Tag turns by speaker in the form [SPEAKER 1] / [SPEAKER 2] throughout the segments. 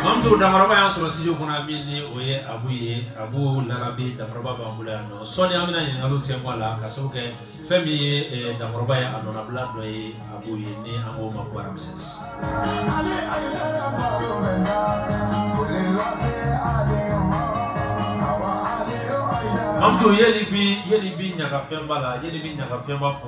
[SPEAKER 1] Mamuso dankɔrɔba y'a sɔrɔ studio kɔnɔ yan min ni o ye Abu ye Abu larabi dankɔrɔba b'an bolo yan nɔ sɔɔni an bɛna ɲininkaliw tɛnku a la k'a sabu kɛ fɛn min ye eh, dankɔrɔba ye a nɔnabila dɔ ye Abu ye ni an k'o ma ko Ramses. Mamuso yeli bi yeli bi ɲagafɛnba la yeli bi ɲagafɛnba fɔ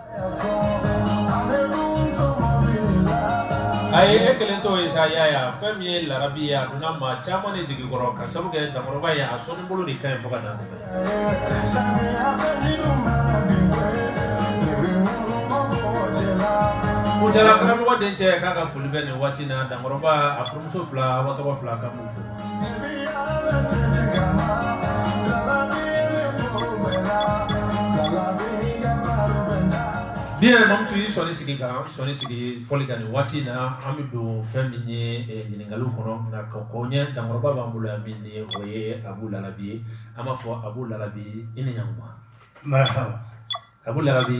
[SPEAKER 1] a ye e kelen to ye sa y'a ye a fɛn min ye larabi ye a donna maa caman de jigi kɔrɔ k'a sabu kɛ dankɔrɔba ye a sɔnni bolo de ka ɲi fo ka dan tɛmɛ Kucala karamɔgɔ dencɛ k'a ka foli bɛ nin waati in na dankɔrɔba a furumuso fila aw tɔgɔ fila ka mun fɔ Ni ye mamu tun y'i sɔnni sigi kan sɔnni sigi fɔli kan nin waati in na an bɛ don fɛn min ye eh, ɲininkaliw kɔnɔ nka ka kɔn o ɲɛ dankɔrɔba b'an bolo yan min ni o ye abu larabi ye an b'a fɔ abu larabi i ni ɲankuma marahaba abu larabi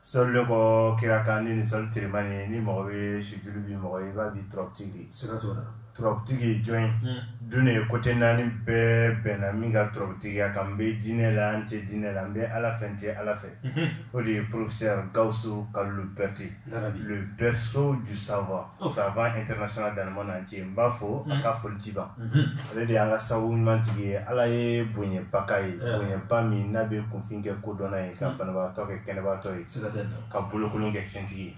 [SPEAKER 1] Selibɔ kira kan ni ni seli teriman ye ni mɔgɔ bɛ sij bɛ mɔgɔ i b'a bi ttigi ttigi jɔn ye don ye ko tɛ naani bɛɛ bɛnna min ka ttigiya kan n bɛ dinɛ la an tɛ dinɛ la n bɛ ala fɛ n tɛ ala fɛ o de ye professeur Gawusu Kalilu Berete bɛso ju saba Safa international dan mana cɛ n b'a fo a ka foli ciba ale de y'an ka sababu ɲumantigi ye ala ye bonyaba k'a ye bonyaba min n'a bɛ kunfin kɛ kodɔnna ye ka banabagatɔ kɛ kɛnɛbagatɔ ye ka bolokolon kɛ fɛntigi ye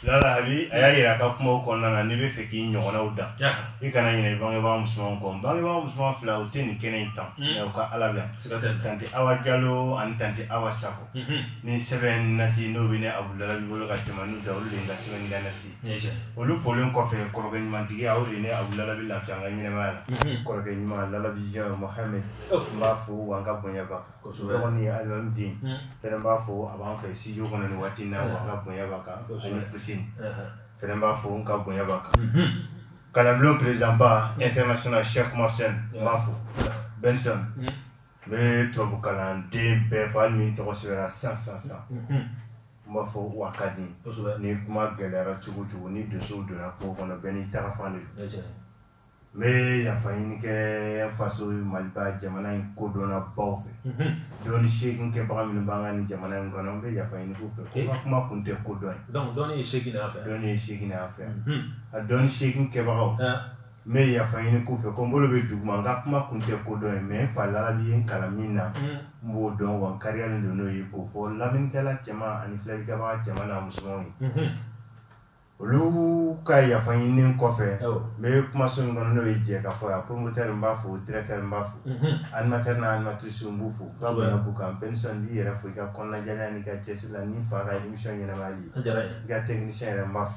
[SPEAKER 1] larabi a y'a jira a ka kuma kɔnɔna na n'i b'a fɛ k'i ɲɔgɔnw dan i kana ɲinɛ bangebaa musoman kɔ bangebaa musoman fila u tɛ nin kɛnɛ in tan u ka ala la tan tɛ aw jalo ani tan tɛ aw sa ni sɛbɛn nasi n'o bɛ ne abudala bolo ka tɛmɛ n'u da olu de ka sɛbɛn da nasi olu folen kɔfɛ kɔrɔkɛ ɲumantigi aw de ne abudala bɛ lafi an ka ɲɛnɛmaya la kɔrɔkɛ ɲuman larabi jɛ mahamɛ n b'a fo wa an ka bonyaba kɔsɔn ye alimami den fɛ n b'a fo a b'an fɛ siji kɔnɔ ni waati na an ka bonyaba kan ani fusi fɛ n b'a fo n ka bonyaba kan kalanbulon prezsanba n tɛna sɛyɛn kuma sen n b'a fɔ bɛnsa N bɛ tubabu kalanden bɛɛ fo hali ni tɔgɔ sɛbɛnna sisan sisan sisan n b'a fɔ u ka di ni kuma gɛlɛyara cogo cogo ni donso donna kungo kɔnɔ bɛɛ n'i taga fan de don n bɛ yafa ɲini kɛ faso mali jamana in kodɔnna baw fɛ dɔnni se kɛbaga minnu b'an ka ni jamana in kɔnɔ n bɛ yafa ɲini u fɛ ka kuma kun tɛ kodɔn ye dɔn ye fɛ dɔn ye fɛ a dɔn se kɛbagaw ne ye yafa ɲini k'u fɛ ko n bolo bɛ duguma n ka kuma kun tɛ ko dɔn ye mɛ n fa lalabi ye n kalan min na mm. n b'o dɔn wa n kariyalen don n'o ye k'o fɔ lamɛnnikɛla cɛman ani filɛlikɛbaga cɛman n'a musomanw ye mm-hmm. olu ka yafa ɲininen kɔfɛ n bɛ kumaso min kɔnɔ n'o ye jɛkafɔ yan promoteur n b'a fo directeur n b'a fo mm-hmm. animateur n'a animatrice n b'u fo ka bonya d'u kan penisɔn n b'i yɛrɛ fo i ka kɔnɔnajɛlenya n'i ka cɛsiri la ni fa ka émission ɲɛnɛmayali i ka technicien yɛrɛ n b'a fo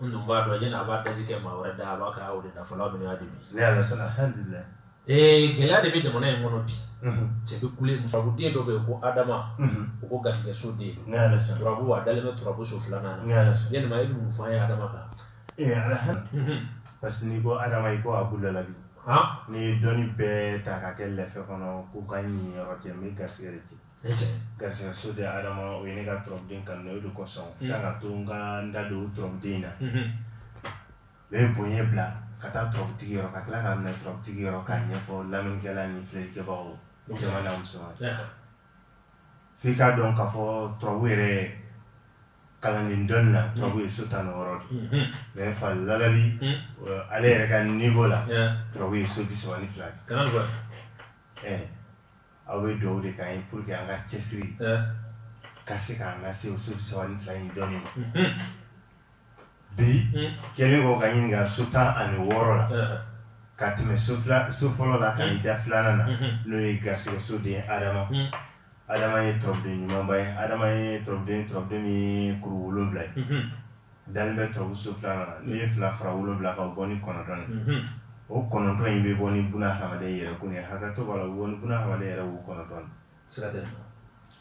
[SPEAKER 1] n dun b'a dɔn yan'a b'a dasi kɛ maa wɛrɛ da a b'a kɛ o de da fɔlɔ min y'a dimi ne y'a sɔrɔ alhamdulilayi ee gɛlɛya de bɛ jamana in kɔnɔ bi cɛ bɛ kule turabu den dɔ bɛ yen ko adama o ko garijɛgɛ so den ne y'a sɔrɔ turabu a dalen bɛ turabu so filanan na ne y'a sɔrɔ yalima e bɛ mun fɔ an ye adama kan ee alhamdulilayi parce que n'i ko adama i ko abu lalabi n'i ye dɔnni bɛɛ ta ka kɛ lɛfɛ kɔnɔ ko n ka n niyɔrɔ cɛ n bɛ garisɛgɛ de cɛ garisigɛ so den ha adama o ye ne ka turabuden ka o de kosɔn ka to n ka n da don turabuden na u ye bonya bila ka taa turabutigi ka tila ka minɛ turabutigi ka ɲɛfɔ lamɛnnikɛla ni filɛlikɛbagaw muso f k'a dɔn ka fɔ turabu yɛrɛ kalan ni dɔnni na turabu ye so tan ni wɔɔrɔ de mɛ n fa lalabi ale yɛrɛ ka ɲɛfɔ la turabu ye so bisaba ni fila aw bɛ dugawu de k'an ye pour que an ka cɛsiri ka se k'an lase o so bisaba ni fila in dɔɔnin ma bi kɛlen kɔ ka ɲininka so tan ani wɔɔrɔ la ka tɛmɛ so fila so fɔlɔ la ka n'i da filanan na n'o ye garisigɛ so den Adama Adama ye turabuden ɲumanba ye Adama ye turabuden turabuden min ye kuru wolonwula ye dalen bɛ turabu so filanan na n'i ye fila fara wolo wolonwula ka bɔ ni kɔnɔntɔn ye o kɔnɔntɔn in bɛ bɔ ni buna ha yɛrɛ ko ye hakɛ tɔgɔ la bɔ ni buna ha yɛrɛ wo kɔnɔntɔn sira tɛ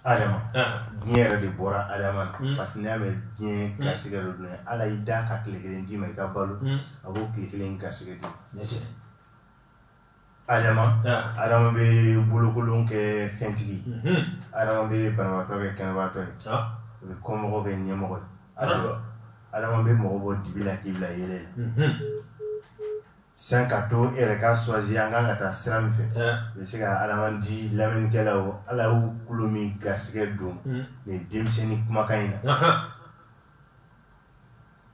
[SPEAKER 1] adama diɲɛ yɛrɛ de bɔra adama na parce que y'a mɛ diɲɛ garisigɛ dɔ dun ala y'i da ka tile kelen d'i ma i ka balo a b'o tile kelen garisigɛ di Adama ah. Adama bɛ bolokolon kɛ fɛntigi mhm. Adama bɛ banabaatɔ kɛ kɛnɛbaatɔ ye ah. o bɛ kɔmɔgɔ kɛ ɲɛmɔgɔ ye ah. Adama bɛ mɔgɔ bɔ dibi la k'i bila yeelen la mhm. sisan ka to e yɛrɛ ka choisir an kan ka taa sira min fɛ eh. u bɛ se ka Adama di lamɛnnikɛlaw Ala y'u tulo min garisigɛ don mhm. nin denmisɛnnin kumakan in na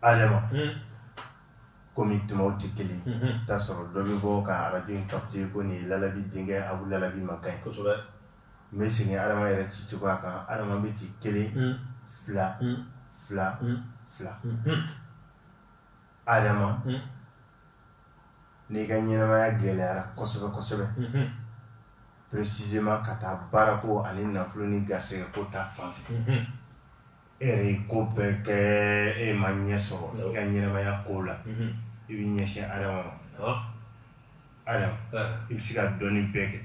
[SPEAKER 1] Adama komi tumaw tɛ kelen t'a sɔrɔ dɔ bɛ bɔ ka arajo in kapte ko nin ye lalabi denkɛ abu lalabi kumakan kosɛbɛ n bɛ segin adama yɛrɛ ci cogoya kan adama bɛ ci kelen fila fila fila adama n'i ka ɲɛnamaya gɛlɛyara kosɛbɛ kosɛbɛ presisema ka taa baarako ani nafolo ni garisɛgɛ ko ta fan fɛ e yɛrɛ ye ko bɛɛ kɛ e ma ɲɛ sɔrɔ i ka ɲɛnamaya ko la i b'i ɲɛsin adama ma adama i bɛ se ka dɔnni bɛɛ kɛ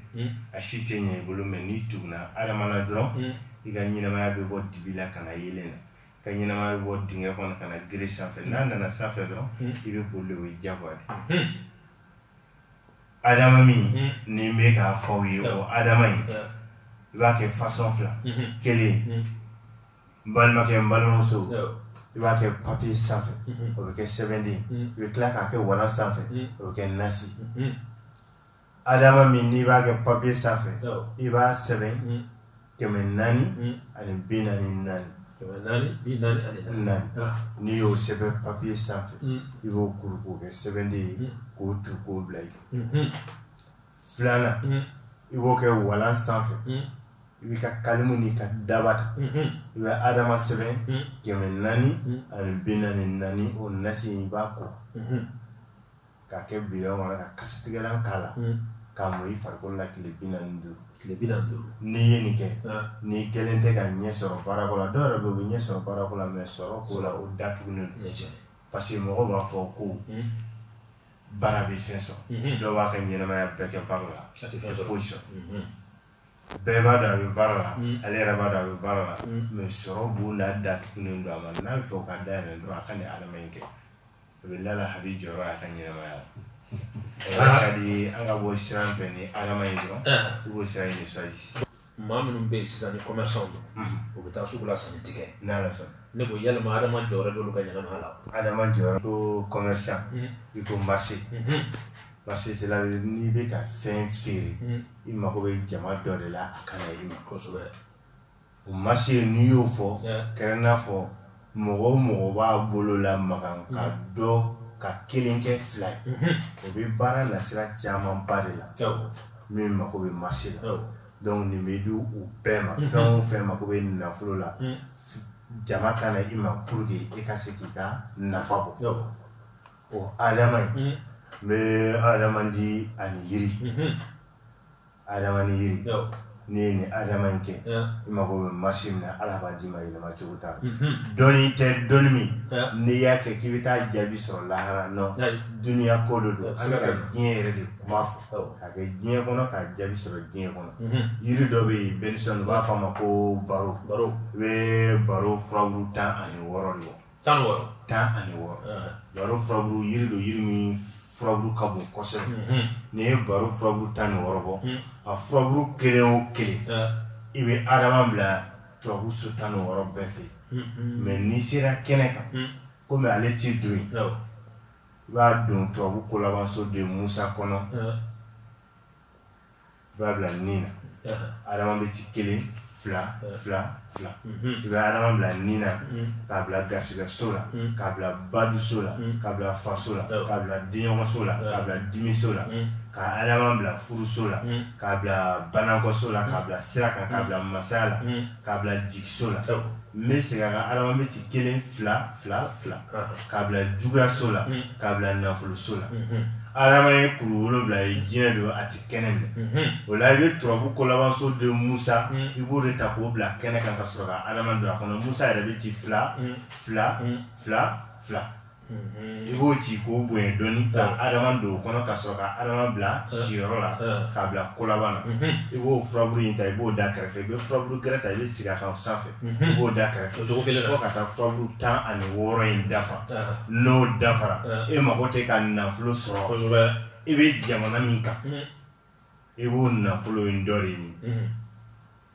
[SPEAKER 1] a si tɛ ɲɛ i bolo mɛ n'i tuguna adama na dɔrɔn i ka ɲɛnamaya bɛ bɔ dibi la ka na yeelen na ka ɲɛnamaya bɛ bɔ dingɛ kɔnɔ ka na gere sanfɛ n'a nana sanfɛ dɔrɔn i bɛ boli o ye jagoya de adama min mm. ne bɛ k'a fɔ aw ye o adama in i b'a kɛ fasɔn fila mm-hmm. kelen mm. n balimakɛ n balimamuso i b'a kɛ papiye sanfɛ mm-hmm. o bɛ kɛ sɛbɛnden mm. i bɛ tila k'a kɛ walan sanfɛ o bɛ kɛ nasi mm-hmm. adama min n'i b'a kɛ papiye sanfɛ i b'a sɛbɛn kɛmɛ naani hmm. ani bi naani naani kɛmɛ naani bi naani ani naani ah. n'i y'o sɛbɛn papiye sanfɛ hmm. i b'o kuru k'o kɛ sɛbɛnden ye hmm. k'o tu k'o bila ye filanan i b'o kɛ walan sanfɛ i b'i ka kalimu n'i ka daba ta i bɛ adama sɛbɛn kɛmɛ naani ani bi naani naani o nasi i b'a ko k'a kɛ bidɔn kɔnɔ ka kasatigɛlan k'a la mm. k'a mun i farikolo la tile bi naani duuru tile bi naani duuru n'i ye nin kɛ n'i kɛlen tɛ ka ɲɛ sɔrɔ baarako la dɔw yɛrɛ bɛ yen u bɛ ɲɛ sɔrɔ baarako la mɛ sɔrɔ ko la o datugulen don parce que mɔgɔw b'a fɔ ko mm. baara bɛ fɛn sɔrɔ mm-hmm. dɔ b'a ka ɲɛnamaya bɛɛ kɛ baara la a tɛ foyi sɔrɔ mm-hmm. bɛɛ b'a dɔn a bɛ baara la mm. ale yɛrɛ b'a dɔn a bɛ baara la mɛ sɔrɔ ko la datugulen don a ma n'a b'a fɛ o ka da yɛlɛ dɔrɔn a ka nin adama in kɛ a bɛ lala a bɛ jɔyɔrɔ a ka ɲɛnamaya la ka di an ka bɔ sira fɛ ni adama ye dɔrɔn i b'o sira ye saji maa minnu bɛ yen sisan ni kɔmɛsan don u bɛ taa sugu la sanni tɛ kɛ n'ala sɔnna ne ko yalima adama jɔyɔrɔ b'olu ka ɲɛnamaya la adama jɔyɔrɔ ko kɔmɛsan i ko marché marché c'est là n'i bɛ ka fɛn feere i mago bɛ jama dɔ de la a ka na i ma kosɛbɛ o marché ye n'i y'o fɔ kɛrɛn n'a fɔ mɔgɔ o mɔgɔ b'a bolo lamaga ka mm-hmm. dɔ ka kelen kɛ fila ye mm-hmm. o bɛ baara nasira caman ba de la min mako bɛ marché la dɔnku nin bɛ di u bɛɛ ma mm-hmm. fɛn o fɛn mako bɛ nafolo la mm. jama ka na i ma pour que e ka se k'i ka nafa bɔ o adama ye n bɛ adama di ani yiri adama ni yiri n'i ye nin adama in kɛ i mago bɛ marché min na ala b'a d'i ma yɛlɛma cogo t'a la mhm. dɔnni tɛ dɔnni min n'i y'a kɛ k'i bɛ taa jaabi sɔrɔ lahara nɔ duniya ko de don an bɛ ka diɲɛ yɛrɛ de kuma fɔ ka kɛ diɲɛ kɔnɔ ka jaabi sɔrɔ diɲɛ kɔnɔ mhm. yiri dɔ bɛ yen bɛnisɔn u b'a fɔ a ma ko baro i bɛ baro furabulu tan ani wɔɔrɔ de bɔ tan ni wɔɔrɔ tan ani wɔɔrɔ baro furabulu yiri don yiri min furabulu ka bon kosɛbɛ mhm. n'i ye baro furabulu tan ni wɔɔrɔ bɔ mhm. a furabulu kelen o kelen i bɛ adama bila turabu so tan ni wɔɔrɔ bɛɛ fɛ mhm. mɛ n'i sera kɛnɛ kan komi ale tɛ don yen i b'a don turabu kolabanso de musa kɔnɔ i b'a bila ni na adama bɛ ci kelen fila fila fila i bɛ adama bila ni na k'a bila garisigɛ so la k'a bila baduso la k'a bila faso la k'a bila denɲɔgɔnso la k'a bila dimiso la ka adama bila furuso la k'a bila banakɔso la k'a bila sira kan k'a bila masaya la k'a bila jigiso la n bɛ segin a kan adama bɛ ci kelen fila fila fila k'a bila juguyaso la k'a bila nafoloso la adama ye kuru wolonwula ye jinɛ don a tɛ kɛnɛ minɛ o la i bɛ turabu kolabanso de musa i b'o de ta k'o bila kɛnɛ kan ka sɔrɔ ka adama don a kɔnɔ musa yɛrɛ bɛ ci fila fila fila fila i b'o ci k'o bonya dɔɔni ka adama don o kɔnɔ ka sɔrɔ ka adama bila siyɔrɔ la k'a bila kolaban na i b'o furaburu in ta i b'o da kɛrɛfɛ i bɛ furaburu gɛrɛ ta i bɛ sigi a kan sanfɛ i b'o da kɛrɛfɛ cogo kelen fo ka taa furaburu tan ani wɔɔrɔ in dafa n'o dafara e mago tɛ ka nafolo sɔrɔ i bɛ jamana min kan i b'o nafolo in dɔ de ɲini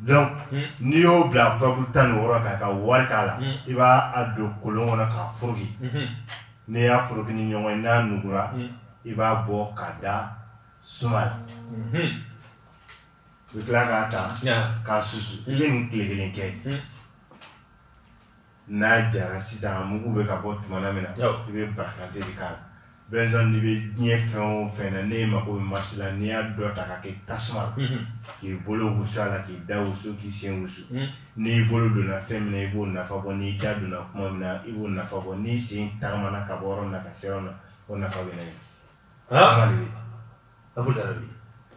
[SPEAKER 1] donc hmm. n'i y'o bila furabulu tan ni wɔɔrɔ kan ka wari k'a la hmm. i b'a a don kolon kɔnɔ k'a foroki hmm. n'i y'a foroki ni ɲɔgɔn ye n'a nugura i b'a bɔ k'a da suma la i bɛ tila k'a ta k'a susu i bɛ nin tile kelen kɛ n'a jara sisan a mugu bɛ ka bɔ tuma min na i bɛ barakante de k'a la bɛnsan n'i bɛ diɲɛ fɛn o fɛn na n'e mako bɛ marisi la n'i y'a dɔ ta k'a kɛ tasuma na k'i bolo wusu a la k'i da wusu k'i sen wusu n'i bolo donna fɛn min na i b'o nafa bɔ n'i da donna kuma min na i b'o nafa bɔ n'i sen tagamana ka bɔ yɔrɔ min na ka se yɔrɔ min na o nafa bɛ na ye a ko diyara bi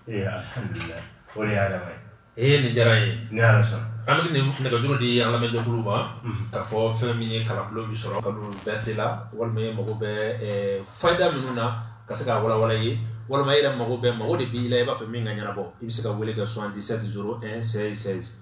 [SPEAKER 1] ee alhamdulilayi o de y'a dama ye ee nin diyara ye ni ala sɔnna an bɛ nɛgɛjuru di an lamɛnjɛkulu ma k'a fɔ fɛn min ye kalanbolo bi sɔrɔ ka don bɛrɛ t'a la walima e mago bɛ fayida minnu na ka se k'a walawala i ye walima e yɛrɛ mago bɛ mago de b'i la i b'a fɛ min ka ɲɛnabɔ i bɛ se ka wele kɛ 77 01 16 16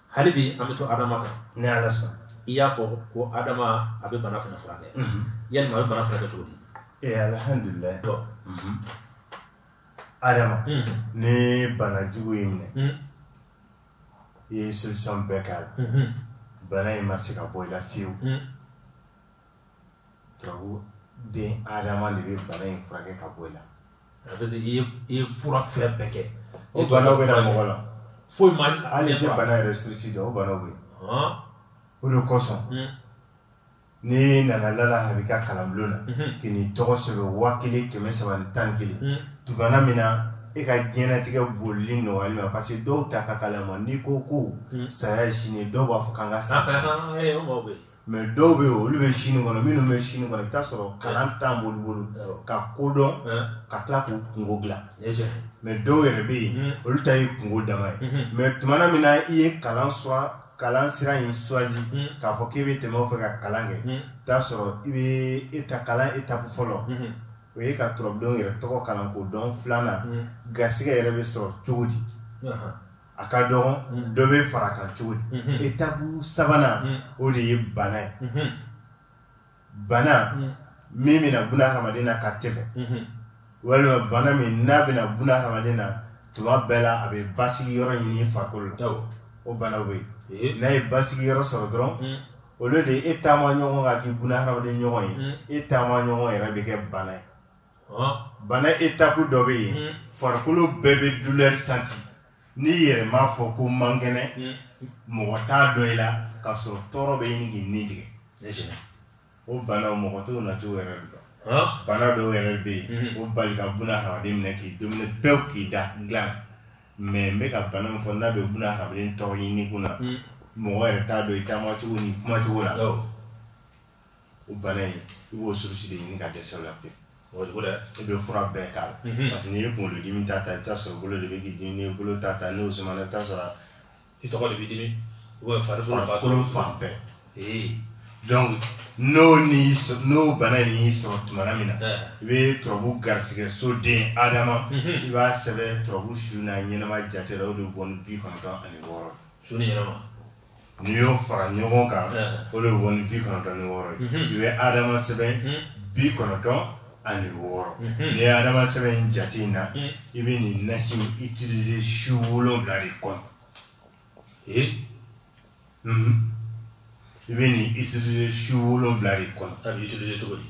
[SPEAKER 1] hali bi an bɛ to adama kan ni ala sɔnna i y'a fɔ ko adama a bɛ bana fana furakɛ mhm. yalima a bɛ bana furakɛ cogo di ee eh, alihamdulilayi mhm. adama mhm. ni bana jugu y'i minɛ i ye solution bɛɛ k'a la bana in ma se ka bɔ i la fiyewu turabu den adama de bɛ bana in furakɛ ka bɔ i la ça veut dire i ye i ye fura fɛn bɛɛ kɛ o banaw bɛ na mɔgɔ la foyi ma hali i tɛ bana yɛrɛ surusi dɔn o banaw bɛ yen o de kosɔn n'i nana larabi ka kalanbulon na k'i n'i tɔgɔ sɛbɛn waa kelen kɛmɛ saba ni tan ni kelen tuma na min na e ka diɲɛlatigɛ bolili nɔgɔyali ma parce que dɔw ta ka kala ma n'i ko ko saya ye sini dɔw b'a fɔ k'an ka sa mɛ dɔw bɛ yen olu bɛ sini kɔnɔ minnu bɛ sini kɔnɔ i bɛ taa sɔrɔ kalan t'an bolo bolo ka ko dɔn ka tila k'u kunko dilan mɛ dɔw yɛrɛ bɛ yen hmm. olu ta ye kunko dama ye hmm. mɛ tuma min na i ye kalan sɔrɔ kalan sira in suwazi hmm. k'a fɔ k'i bɛ tɛmɛ o fɛ ka kalan kɛ i t'a sɔrɔ i bɛ e ta kalan etapu fɔlɔ o ye ka turabu den yɛrɛ tɔgɔ kalan k'o dɔn filanan garisigɛ yɛrɛ bɛ sɔrɔ cogo di a ka dɔgɔn mm. dɔ bɛ far'a kan cogo di mm-hmm. etapu sabanan mm. o de ye bana ye mm-hmm. bana mm. min bɛ na buna hadamaden na ka tɛmɛ mm-hmm. walima bana min n'a bɛ na buna hadamaden na tuma bɛɛ la a bɛ basigi yɔrɔ ɲini farikolo la o banaw bɛ yen n'a ye basigi yɔrɔ sɔrɔ dɔrɔn olu de ye e taama ɲɔgɔn ka k'i buna hadamaden ɲɔgɔn ye e taama ɲɔgɔn yɛrɛ bɛ kɛ bana ye bana etapu dɔ bɛ yen hmm. farikolo bɛɛ bɛ dulɛri santi n'i yɛrɛ m'a fɔ ko n man kɛnɛ hmm. mɔgɔ t'a dɔn i la k'a sɔrɔ tɔɔrɔ bɛ ɲini k'i ni tigɛ o bana mɔgɔ t'o na t'o yɛrɛ dɔn bana dɔw yɛrɛ bɛ yen hmm. o bali ka buna hadamaden minɛ k'i dumuni pewu k'i da dilan mɛ n bɛ ka bana min fɔ n'a bɛ buna hadamaden tɔɔrɔ ɲini kun na mɔgɔ yɛrɛ t'a dɔn i taama cogo ni kuma cogo la o bana in i b'o surusi de ɲini ka dɛsɛ o la pewu o cogo dɛ i bɛ fura bɛɛ k'a la Mhm. parce que n'i ye kunkolodimi ta ta i bɛ t'a sɔrɔ bolo de bɛ k'i dimi n'i ye bolo ta ta n'o sumana i bɛ t'a sɔrɔ i tɔgɔ de b'i dimi ou bien farikolo fa farikolo fan bɛɛ ee donc n'o n'i sɔ- n'o bana in y'i sɔrɔ tuma na min na ɛɛ i bɛ turabu garisigɛ so den adama Mhm. i b'a sɛbɛn turabu su n'a ɲɛnama jate la o de bɛ bɔ ni bi kɔnɔntɔn ani wɔɔrɔ su ni ɲɛnama n'i y'o fara ɲɔgɔn kan o de bɔ ni bi kɔnɔntɔn ni wɔɔrɔ ye mhm. i bɛ adama sɛbɛn mhm. bi kɔnɔntɔn ani wɔɔrɔ mhm. n'i ye adama sɛbɛn in jate in na i bɛ nin nasi utiliser su wolonwula de kɔnɔ ee i bɛ nin utiliser su wolonwula de kɔnɔ a bɛ utiliser cogo di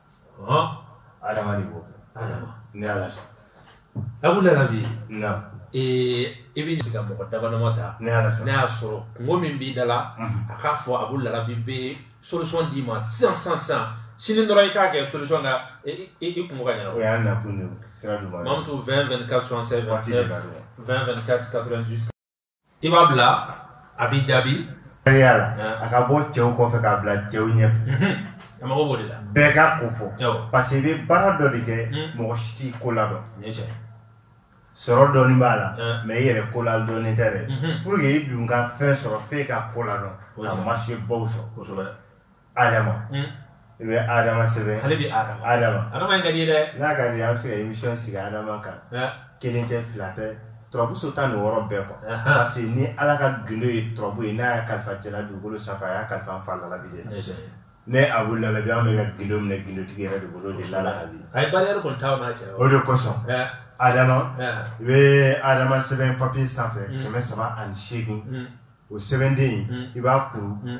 [SPEAKER 1] adama de b'o kɛ ni ala sɔn abu larabi na ee i bɛ se ka mɔgɔ damadama ta ni ala sɔn n'a y'a sɔrɔ kunko min b'i da la a k'a fɔ abu larabi bɛ solution d'i ma sisan sisan sisan sini dɔrɔn i k'a kɛ solution ka i i i kunko ka ɲɛnabɔ o y'a nakun de ye sira duguma mamutu 20 24 76 waati de ka 29 dɔgɔ 20 24 98 i b'a bila a b'i jaabi tɛgɛya la a ka bɔ cɛw kɔfɛ k'a bila cɛw ɲɛfɛ mhm. a mago b'o de la bɛɛ k'a ko fɔ parce que i bɛ baara dɔ de kɛ mhm. mɔgɔ si t'i ko ladɔn sɔrɔ dɔɔni b'a la mais i yɛrɛ ko ladɔnnen tɛ dɛ mhm. pour que i dun ka fɛn sɔrɔ f'e ka ko ladɔn ka marché baw sɔrɔ adama hmm. i bɛ adama sɛbɛn ale bɛ adama adama adama in ka di ye dɛ n'a ka di an bɛ se ka emission sigi adama kan kelen tɛ fila tɛ turabuso tan ni wɔɔrɔ bɛɛ kɔ parce que ni ala ka gindo ye turabu ye n'a y'a kalifa jɛla dugukolo sanfɛ a y'a kalifa an fa lalabi de la ne Abu Larabi an bɛ ka gindo minɛ gindotigi yɛrɛ de bolo de lalabi a ye bariyɛri kɔni t'aw n'a cɛ o de kosɔn adama i bɛ adama sɛbɛn papiye sanfɛ kɛmɛ saba ani seegin o sɛbɛnden in i b'a kuru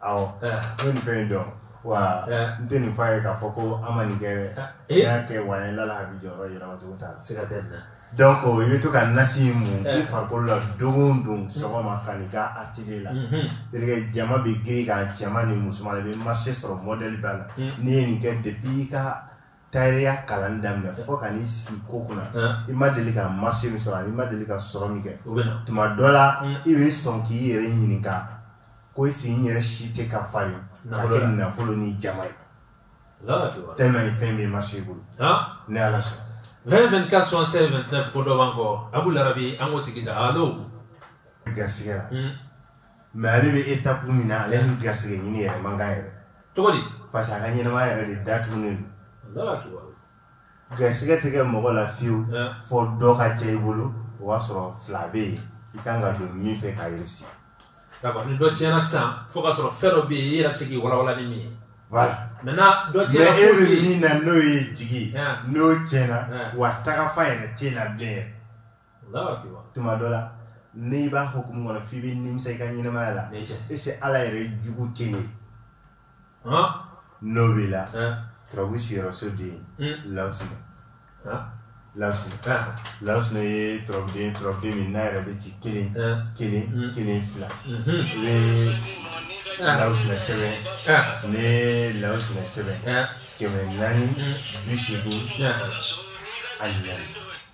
[SPEAKER 1] awɔ ne nin fɛn in dɔn wa n tɛ nin f'a ye k'a fɔ ko an ma nin kɛ dɛ n'i y'a kɛ wa n lala a bɛ jɔyɔrɔ yɛlɛma cogo t'a la siga tɛ donc i bɛ to ka nasi in mun i farikolo la don o don sɔgɔma ka n'i ka atelier la terikɛ jama bɛ girin i kan cɛman ni musoman i bɛ marché sɔrɔ modèle bɛɛ la n'i ye nin kɛ depuis i ka tayɛrɛya kalanni daminɛ fo ka n'i sigi ko kunna i ma deli ka marché min sɔrɔ ani i ma deli ka sɔrɔ min kɛ tuma dɔ la i bɛ sɔn k'i yɛrɛ ɲininka ko est-ce n yɛrɛ si tɛ ka fa ye ka kɛ nafolo ni jama ye tellement fɛn bɛ marché bolo ni ala sɔnna 20 24 76 29 ko dɔ b'an kɔ Abu Larabi an k'o tigi ta allo garisigɛ la mais ale bɛ étape min na ale ni garisɛgɛ ɲini yɛrɛ man kan yɛrɛ cogo di parce que a ka ɲɛnamaya yɛrɛ de datugunen don garisɛgɛ tɛ kɛ mɔgɔ la fiyewu fo dɔ ka tiɲɛ i bolo o b'a sɔrɔ fila bɛ yen i kan ka don min fɛ k'a yɛrɛsi d'accord ni dɔ tiɲɛna sisan f'o k'a sɔrɔ fɛn dɔ bɛ yen i yɛrɛ bɛ se k'i walawala ni min ye voilà maintenant dɔ tiɲɛna fo ti mais e bɛ min na n'o ye jigi n'o tiɲɛna wa tagafan yɛrɛ tɛ na bilen yɛrɛ tuma dɔ la n'i b'a hukumu kɔnɔ f'i bɛ nimisa i ka ɲɛnamaya la est-ce ala yɛrɛ jugu tɛ ye n'o b'i la turabu siyɔrɔ so den hmm. lawusina lawusina lawusina ye turabuden turabuden min n'a yɛrɛ bɛ ci kelen kelen hmm. kelen fila lawusina sɛbɛn ne lawusina sɛbɛn kɛmɛ naani bi seegin ani naani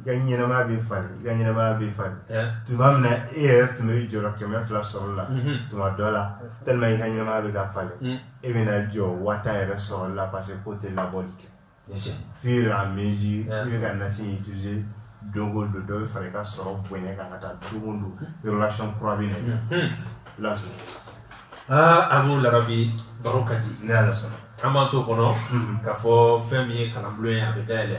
[SPEAKER 1] i ka ɲɛnamaya bɛ falen i ka ɲɛnamaya bɛ falen tuma min na e yɛrɛ tun bɛ jɔrɔ kɛmɛ fila sɔrɔ la tuma dɔ la tellement i ka ɲɛnamaya bɛ ka falen e bɛna jɔ waa tan yɛrɛ sɔrɔ la parce que ko tɛ labɔli kɛ fur à mesure i bɛ ka nasi utiliser don o don dɔ bɛ fara i ka sɔrɔ bonya kan ka taa don o don relation kura bɛ na i lasɔrɔ aa Abu Larabi baro ka di ne y'a lasɔrɔ an b'an t'o kɔnɔ k'a fɔ fɛn min ye kalanbulon ye a bɛ dayɛlɛ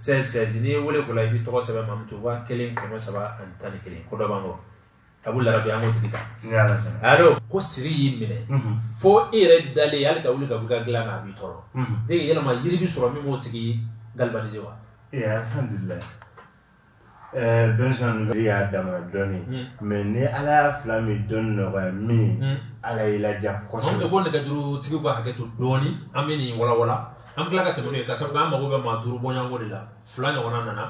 [SPEAKER 1] 76 n'i ye wele ko la i bɛ tɔgɔ sɛbɛn Mamutu 1311 ko dɔ b'an kɔ a b'u larabi an k'o tigi ta allo ko siri y'i minɛ fo e yɛrɛ dalen hali ka wuli ka bɔ i ka dilan na a b'i tɔɔrɔ yala yiri bɛ sɔrɔ min b'o tigi galvaniser wa Denmisɛn de y'a da dɔɔnin mɛ ni ala y'a fila min dɔn nɔgɔya min ala y'i la kɔsɔ ko ne ka duuru tigi bɛ hakɛ to dɔɔnin an bɛ nin walawala an tila ka tɛmɛ ka sababu an mago bɛ maa duuru bɔko de la fila ɲɔgɔn nana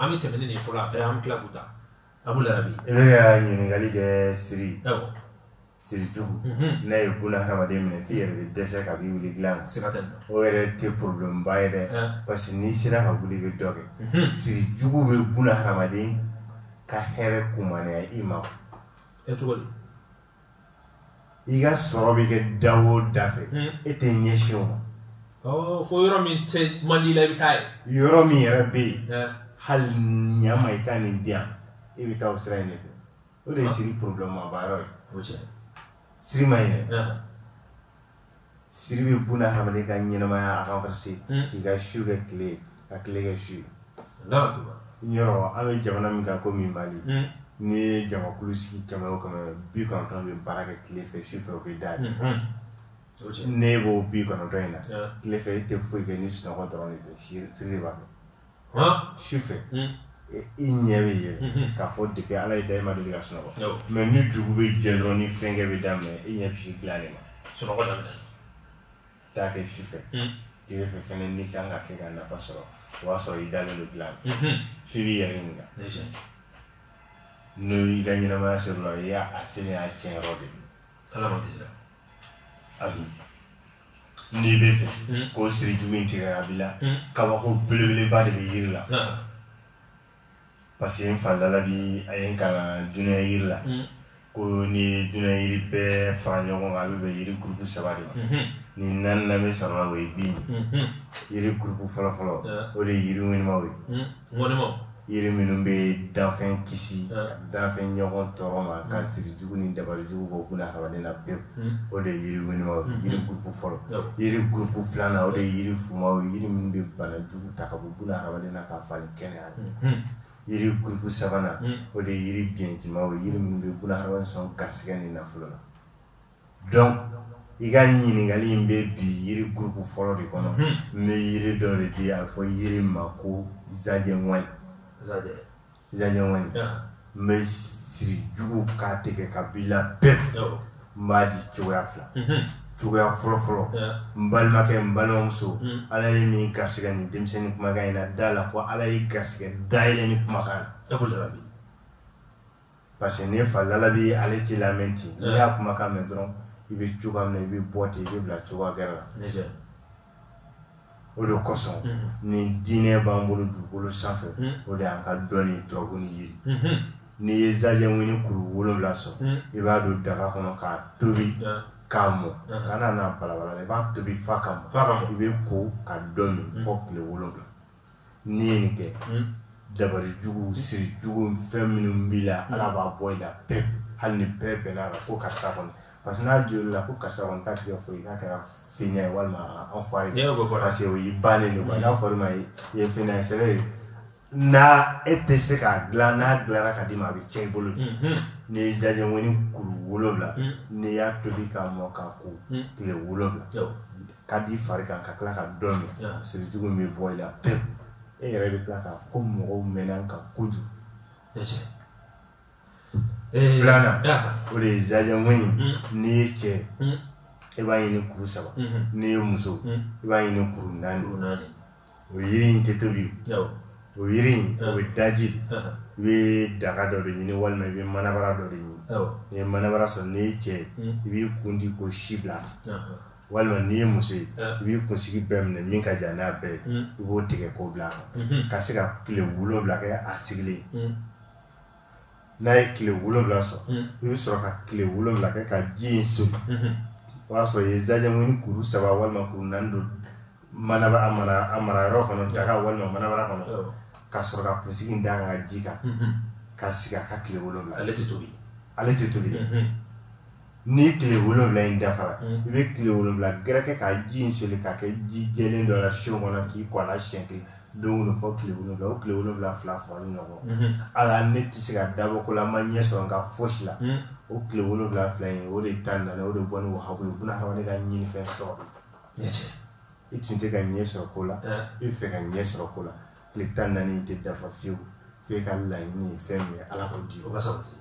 [SPEAKER 1] an bɛ tɛmɛ nin fɔlɔ an tila ta a y'a ɲininkali kɛ siri Siri de ye buna hadamaden minɛ f'i yɛrɛ bɛ dɛsɛ ka b'i wili dilan o yɛrɛ tɛ problème ye dɛ parce que n'i sera ka wuli bɛ dɔ kɛ siri jugu bɛ buna hadamaden ka hɛrɛ kunmaya i ma i ka sɔrɔ bɛ kɛ da o da fɛ e tɛ ɲɛsin o ma fo yɔrɔ min tɛ man di i la i bɛ taa ye yɔrɔ min yɛrɛ bɛ yen hali n'a ma i taali diya e bɛ taa o sira in de fɛ O de ye siri problèmeba ye o cɛ siri ma ye siri bɛ buna ha ka ɲɛnɛmaya a ka se k'i ka su kɛ tile ka tile kɛ su an ye jamana min kan komi mali n ye jamakulu sigi kɛmɛ o kɛmɛ bi kɔnɔntɔn bɛ baara kɛ tile fɛ su fɛ o bɛ da ye ne b'o bi kɔnɔntɔn in na tile fɛ e tɛ foyi kɛ ni sunɔgɔ dɔrɔn de tɛ siri b'a su fɛ i ɲɛ bɛ ye k'a fɔ de ala y'i da ma deli ka sunɔgɔ mɛ ni dugu bɛ jɛ dɔrɔn ni fɛnkɛ bɛ daminɛ i ɲɛ b'i dilan de ma sunɔgɔ taa kɛ su fɛ i bɛ fɛ fɛn min kan ka kɛ ka nafa sɔrɔ o y'a sɔrɔ i dalen don dilan f'i b'i yɛrɛ ɲininka n'o y'i ka ɲɛnamaya sɔrɔ i y'a a siri y'a tiɲɛ yɔrɔ de ala ma tɛ abi n'i b'a fɛ hmm. k'o siri jugu in tigɛ a b'i la hmm. kabako belebeleba de bɛ yiri la parce que n fa dala bi a ye n kalan duniya yiri la hmm. ko ni duniya yiri bɛɛ fara ɲɔgɔn kan a bɛ bɛn yiri gurupu saba de ma ni naaninan bɛ sɔrɔ la o ye bin ye yiri gurupu fɔlɔfɔlɔ o de ye yiri ŋɛnimaw ye ŋɛnimaw yiri minnu bɛ danfɛn kisi danfɛn ɲɔgɔn tɔɔrɔ ma ka siri jugu ni dabali jugu bɔ buna hadamaden na pewu o de ye yiri wenimaw yiri gurupu fɔlɔ yiri gurupu filanan o de ye yiri fumaw yiri minnu bɛ bana jugu ta ka bɔ buna hadamaden na k'a falen kɛnɛya yiri gurupu sabanan o de ye yiri biɲɛtimaw yiri minnu bɛ buna hadamaden sɔn garisigɛ ni nafolo la donc i ka ɲininkali in bɛ bi yiri gurupu fɔlɔ de kɔnɔ n bɛ yiri dɔ de di a fɔ yiri ma ko zajɛŋɔni zajɛŋɔni in bɛ siri jugu k'a tigɛ k'a bila bɛɛ n b'a di cogoya fila cogoya fɔlɔ fɔlɔ n balimakɛ n balimamuso ala ye min garisigɛ nin denmisɛnnin kumakan in na da a la ko ala ye garisigɛ dayɛlɛ nin kumakan na parce que ne fa lalabi ale t'i lamɛn ten n'i y'a kumakan mɛn dɔrɔn i bɛ cogoya min na i bɛ bɔ ten i bɛ bila cogoya gɛrɛ la o de kosɔn ni diinɛ b'an bolo dugukolo sanfɛ o de y'an ka dɔnni tubabu ni ye n'i ye zajɛŋɔni kuru wolonwula sɔrɔ i b'a don daga kɔnɔ k'a tobi k'a mɔ kana n'a balabala i b'a tobi f'a ka mɔ i b'i ko ka dɔ min fɔ tile wolonwula N'i ye nin kɛ dabali jugu siri jugu fɛn minnu b'i la ala b'a bɔ i la hali ni bɛɛ bɛn la ko karisa kɔnɔ parce que n'a joli la ko karisa kɔnɔ taa tigɛ fɔ i n'a kɛra fɛn ye walima an fa ye se o ba de n'a fɔ ma ye i ye fɛn ye sɛbɛn ye n e tɛ se k'a dila n'a dilara ka d'i ma a bɛ cɛn i bolo n'i ye zajɛŋɔni kuru wolowula n'i y'a tobi k'a mɔ k'a ko tile wolowula k'a d'i fari kan ka tila ka dɔ min sirijugu in bɛ bɔ i la pewu e yɛrɛ bɛ tila k'a fɔ ko mɔgɔw mɛnna n kan kojugu filanan o de ye zajɛŋɔni mm. n'i ye cɛ mm. e b'a ɲini kuru saba mm-hmm. n'i ye muso mm. i b'a ɲini kuru naani o yiri in tɛ tobi o yiri in o bɛ daji de i bɛ daga dɔ de ɲini walima i bɛ manabara dɔ de ɲini n'i ye manabara sɔrɔ n'i ye cɛ ye hmm. i b'i kun di k'o si bila walima n'i ye muso ye i b'i kunsigi bɛɛ minɛ min ka jan n'a bɛɛ ye hmm. i b'o tigɛ k'o bila a kan hmm. ka se ka tile wolonwula kɛ a sigilen n'a ye tile wolonwula sɔrɔ hmm. i bɛ sɔrɔ ka tile wolonwula kɛ ka ji in soli hmm. o y'a sɔrɔ i ye zajɛŋɔni kuru saba walima kuru naani don manaba a mara a mara yɔrɔ kɔnɔ daga walima manabara kɔnɔ ka sɔrɔ ka kunsigi in da a kan ka ji k'a kan hmm. k'a sigi a ka tile wolonwula ale tɛ tobi ale tɛ tobi dɛ ni tile wolonwula in dafara mm. i bɛ tile wolonwula gɛrɛ kɛ ka ji in soli k'a kɛ ji jɛlen dɔ la so kɔnɔ k'i ko a la siɲɛ kelen don kɔnɔ fɔ tile wolonwula o tile wolonwula fila fila ni ɲɔgɔn mm-hmm. ala ne tɛ se ka dabɔ ko la n ma ɲɛ sɔrɔ n ka fosi la mm. o tile wolonwula fila in o tile tan naani o de bɔ ni wahabu ye buna hadamaden ka ɲini fɛn sɔrɔ i tun tɛ ka ɲɛ sɔrɔ ko la i fɛ ka ɲɛ sɔrɔ ko la tile tan naani in tɛ dafa fiyewu f'e ka laɲini ye fɛn min ye ala k'o di o ka sabati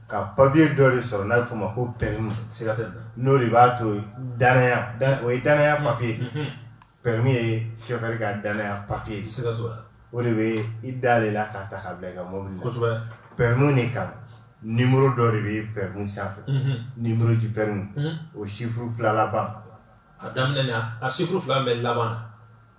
[SPEAKER 1] ka papiye dɔ de sɔrɔ n'a bɛ f'o ma ko pɛrimi n'o de b'a to danaya o ye danaya papiye pɛrimi ye sofɛri ka danaya papiye o de bɛ i da de la k'a ta ka bila i ka mɔbili la pɛrimi de kan nimoro dɔ de bɛ pɛrimi sanfɛ nimoro di pɛrimi o sifuru fila laban a daminɛ na a sifuru fila bɛ laban na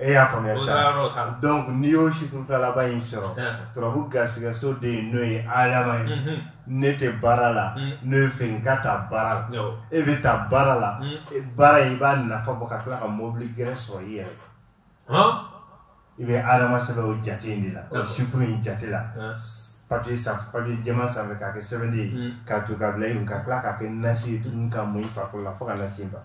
[SPEAKER 1] e y'a faamuya sa donc n'i y'o chiffre fila laban in sɔrɔ turabu garisigɛso de ye n'o ye adama ye mhm. ne tɛ baara la mhm. n'o ye fɛ n ka taa baara la e bɛ taa baara la mhm. e baara in i b'a nafa bɔ ka tila ka mobili yɛrɛ sɔrɔ i yɛrɛ i bɛ adama sɛbɛn o jate in de la o chiffre in jate la papiye sanfɛ papiye jɛman sanfɛ k'a kɛ sɛbɛnden ye k'a ton ka bila i kun ka tila k'a kɛ nasi ye tuguni ka mun i farikolo la fo ka nasi ban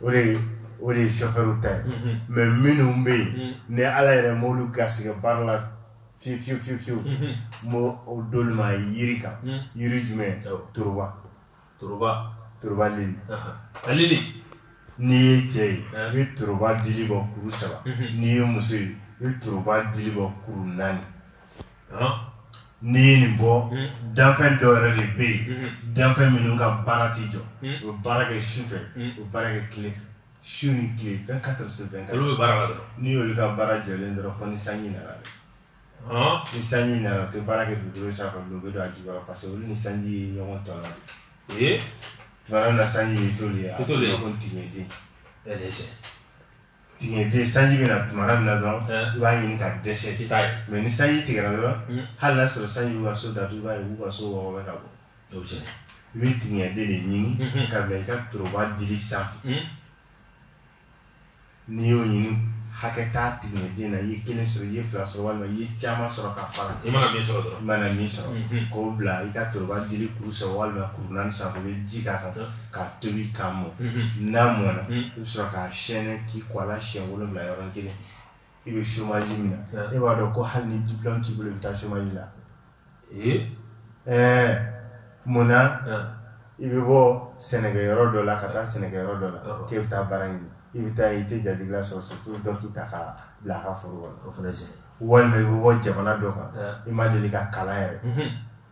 [SPEAKER 1] o de o de ye chauffeur ta ye mhm. mais minnu bɛ yen mhm. ni ala yɛrɛ m'olu garisigɛ baara la fiyewu fiyewu fiyewu fiyewu n mhm. o d'olu ma yiri kan yiri jumɛn toroba toroba toroba lili a lili n'i ye cɛ ye i bɛ toroba dili bɔ kuru saba n'i ye muso ye i bɛ toroba dili bɔ kuru naani N'i ye nin bɔ danfɛn dɔw yɛrɛ de bɛ yen danfɛn minnu ka baara tɛ jɔ u baara kɛ su fɛ u baara kɛ tile su ni tile bɛɛ ka su bɛn n'i y'olu ka baara jɔlen dɔrɔn ni sanji nana dɛ ni sanji nana u tɛ baara kɛ dugu sa don u bɛ don a ju pa parce que olu ni sanji ye ɲɔgɔn ta la na sanji ye to ye a ko tigɛden tigɛden sanji bɛ na tuma min na dɔrɔn i b'a ɲini ka dɛsɛ mɛ ni sanji tigɛra dɔrɔn hali n'a sɔrɔ sanji ka so datugu b'a ye ka so wɔɔrɔ ka bɔ i bɛ tigɛden de ɲini ka bila i ka toroba dili sanfɛ n'i y'o ɲini hakɛ tɛ tigɛden na i ye kelen sɔrɔ i ye fila sɔrɔ walima i ye caman sɔrɔ ka fara i mana min sɔrɔ dɔrɔn i mana min sɔrɔ k'o bila i ka toroba dili kuru saba walima kuru naani sanfɛ i bɛ ji k'a kan k'a tobi k'a mɔ n'a mɔna i bɛ sɔrɔ k'a sɛnsɛn k'i ko a la si wolonwula yɔrɔ kelen i bɛ somaji min na e b'a dɔn ko hali ni dila t'i bolo i bɛ taa somaji la ɛɛ munna i bɛ bɔ sɛnɛkɛ yɔrɔ dɔ la ka taa sɛnɛ yɔrɔ dɔ la k'e bɛ taa baara ɲini i bɛ taa i tɛ jatigi sɔrɔ sotu dɔ k'i ta k'i bila a ka foro walima i bɛ bɔ jamana dɔ kan i ma deli ka kalan yɛrɛ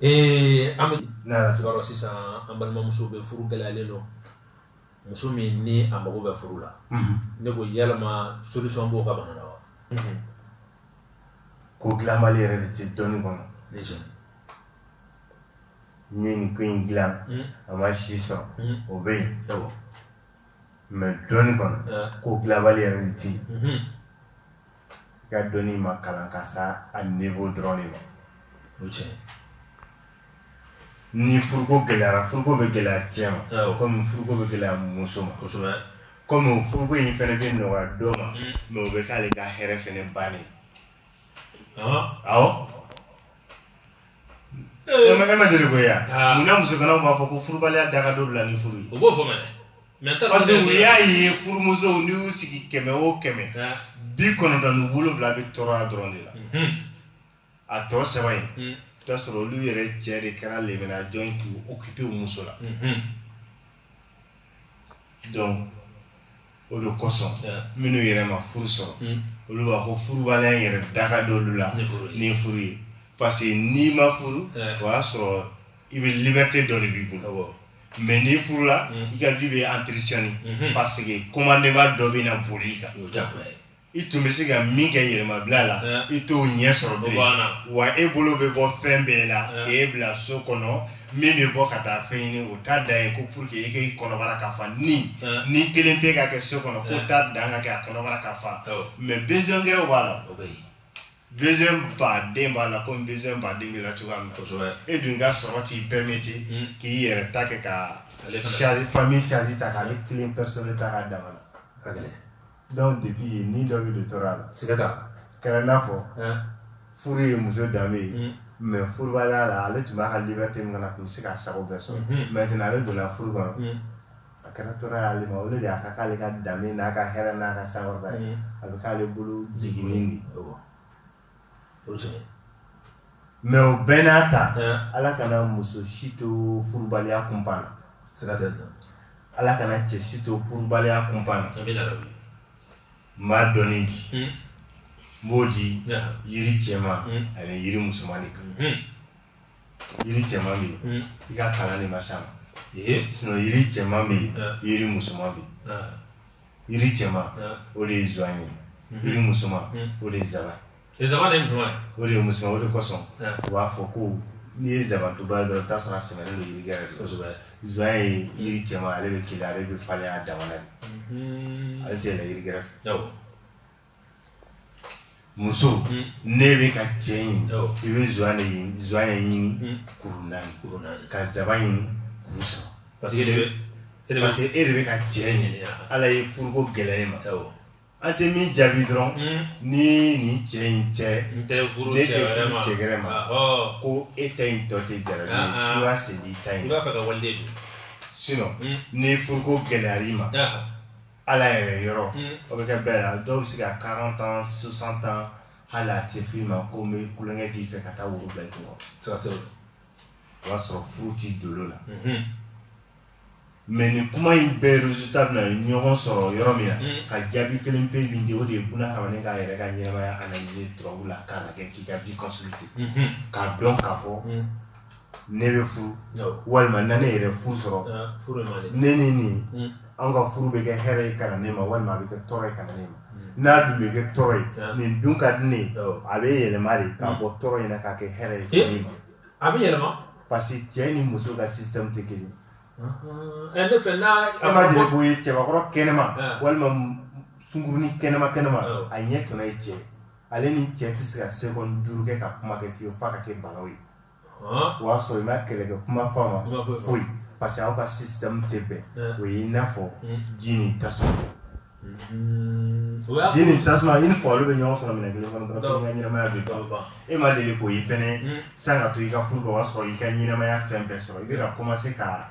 [SPEAKER 1] Ee an bɛ sisan an balimamuso bɛ furu gɛlɛyalen don muso min ni a mago bɛ furu la ne ko yɛlɛma solution b'o ka ban wa ko dilanbali yɛrɛ de tɛ dɔnni kɔnɔ n ye nin ko in dila a ma se sɔn o bɛ yen mɛ dɔnni kɔnɔ ko dilanbali yɛrɛ de tɛ i ka dɔnni ma kalan ka se a niveau dɔrɔn de ma o tɛ ni furuko gɛlɛyara furuko bɛ gɛlɛya cɛ ma awɔ. komi furuko bɛ gɛlɛya muso ma kosɛbɛ komi o furuko in fana bɛ nɔgɔya dɔ ma Mm. mais o bɛ k'ale ka hɛrɛ fana bannen Ɔhɔn. awɔ Eh. E ma deli k'o ye yan ah. munna musoganaw b'a fɔ ko furubaliya da ka d'olu la ni furu ye o b'o fɔ mɛnɛ parce que u y'a ye furumusow n'i y'u sigi kɛmɛ o kɛmɛ ah. bi kɔnɔntɔn ni wolonwula bɛ tɔɔrɔya dɔrɔn de la mhm. a tɔ saba in mhm. i bɛ t'a sɔrɔ olu yɛrɛ cɛ de kɛra lemina jɔn ye k'u occuper u muso la mhm. donc o de kosɔn minnu yɛrɛ ma furu sɔrɔ hmm. olu b'a fɔ furubaliya in yɛrɛ da ka d'olu la ni furu ye parce que n'i ma furu o y'a sɔrɔ i bɛ liberté dɔ de b'i bolo mais n'i furula hmm. i ka vie bɛ entretenue hmm. parce que commandement dɔ bɛ na boli i kan. i tun bɛ se ka min kɛ yɛrɛmabila la i t'o ɲɛ sɔrɔ wa e bolo bɛ bɔ fɛn bɛɛ la k'e bila so kɔnɔ min bɛ bɔ ka taa fɛn ɲini o taa dan ye ko pour que e' kɔnɔbara ka fa ni ni kelen tɛ ka kɛ so kɔnɔ k'o taa dan ka kɛ a kɔnɔbara ka fa mais bɛnkɛ b'a la baden b'a la ko n baden bɛ la cogoya min kosɛbɛ e dun ka sɔrɔ t'i bɛɛ min ten k'i yɛrɛ ta kɛ ka fa sali ta k'ale kelen ta ka da donc depuis ye ni dɔ bɛ don tɔɔrɔya la siga t'a la kɛra n'a fɔ Ɛn, furu ye muso danbe ye mm, mais furubaliya la ale tun b'a ka liberté min kɔnɔ a tun bɛ se k'a sago bɛɛ sɔrɔ Mhm. maintenant ale donna furu kɔnɔ mm, a kɛra tɔɔrɔ y'ale ma o de y'a kɛ k'ale ka danbe n'a ka hɛrɛ n'a ka sankɔrɔta ye mm. a bɛ k'ale bolo jiginni de ye Awɔ. mais o bɛɛ n'a ta ala kana muso si to furubaliya kunpan na ala kana cɛ si to furubaliya kunpan na n b'a dɔɔnin di hmm. n b'o di yiri cɛman hmm. ani yiri musoman de kan hmm. yiri cɛman bɛ yen i ka kalan de ma s'a ma sinon yiri cɛman bɛ yen yiri musoman bɛ yen yiri cɛman o de ye zan ye mhm. yiri musoman mhm. o de ye zaban ye zaban de ye musoman o de ye musoman o de kosɔn u b'a fɔ ko n'i ye zabantuba ye dɔrɔn i bɛ t'a sɔrɔ a sɛmɛnen don yiri gɛrɛ kosɛbɛ zan ye yiri cɛman ale bɛ kelen ale bɛ falen a dama na de mhm. ale tɛ yɛlɛn yiri gɛrɛ fɛ muso hmm. ne bɛ ka cɛ ɲini i bɛ zan de ɲini zan ye ɲini hmm. kuru naani kuru naani ka zaban ɲini kuru saba parce que e de bɛ ka cɛ ɲini ala ye furuko gɛlɛya e ma an tɛ min jaabi dɔrɔn hmm. ni nin cɛ in cɛ ne tɛ furu cɛ gɛrɛ ma ko e ta in tɔ tɛ jara ye ah, ah. suwa sen b'i ta in i b'a fɛ ka waliden don sinon ni furuko gɛlɛyar'i ma ala yɛrɛ yɔrɔ o bɛ kɛ bɛɛ la dɔw bɛ se ka quarante ans soixante ans hali a tɛ f'i ma ko n bɛ kulonkɛ k'i fɛ ka taa woro bila i tɔgɔ ça c'est o b'a sɔrɔ furu t'i dolo la mais nin kuma in bɛɛ résultat bɛna ɲɔgɔn sɔrɔ yɔrɔ min na ka jaabi kelen pe min di o de ye buna hadamaden k'a yɛrɛ ka ɲɛnamaya analyse turabu la k'a lajɛ k'i ka vie consulter k'a dɔn k'a fɔ ne bɛ furu walima na ne yɛrɛ furu sɔrɔ ne ni nin hmm. an ka furu bɛ kɛ hɛrɛ ye ka ne ma walima a bɛ kɛ tɔɔrɔ ye ka ne ma hmm. n'a dun bɛ kɛ tɔɔrɔ ye nin dun ka di ne a bɛ yɛlɛma de k'a hmm. bɔ tɔɔrɔ in na k'a kɛ hɛrɛ ye ka ne ma a bɛ yɛlɛma parce que cɛ ni muso ka système tɛ kelen ye ne fɛ n'a an b'a jira ko ye cɛbakɔrɔ kɛnɛma walima sunkurunin kɛnɛma kɛnɛma a ɲɛ tɔnɔ ye cɛ ale ni cɛ tɛ se ka sekɔni duuru kɛ ka kuma kɛ fiyewu f'a ka kɛ balawu ye o y'a sɔrɔ i ma kɛlɛkɛ kuma fɔ a ma foyi parce que aw ka système tɛ bɛn o ye i n'a fɔ ji ni tasuma ji ni tasuma i n'a fɔ olu bɛ ɲɔgɔn sɔrɔ minɛn kelen kɔnɔ dɔrɔn k'i ka ɲɛnamaya bɛ ban e ma deli k'o ye fɛnɛ san ka to i ka furu la o y'a sɔrɔ i ka ɲɛnamaya fɛn bɛɛ sɔrɔ i bɛ ka commencer ka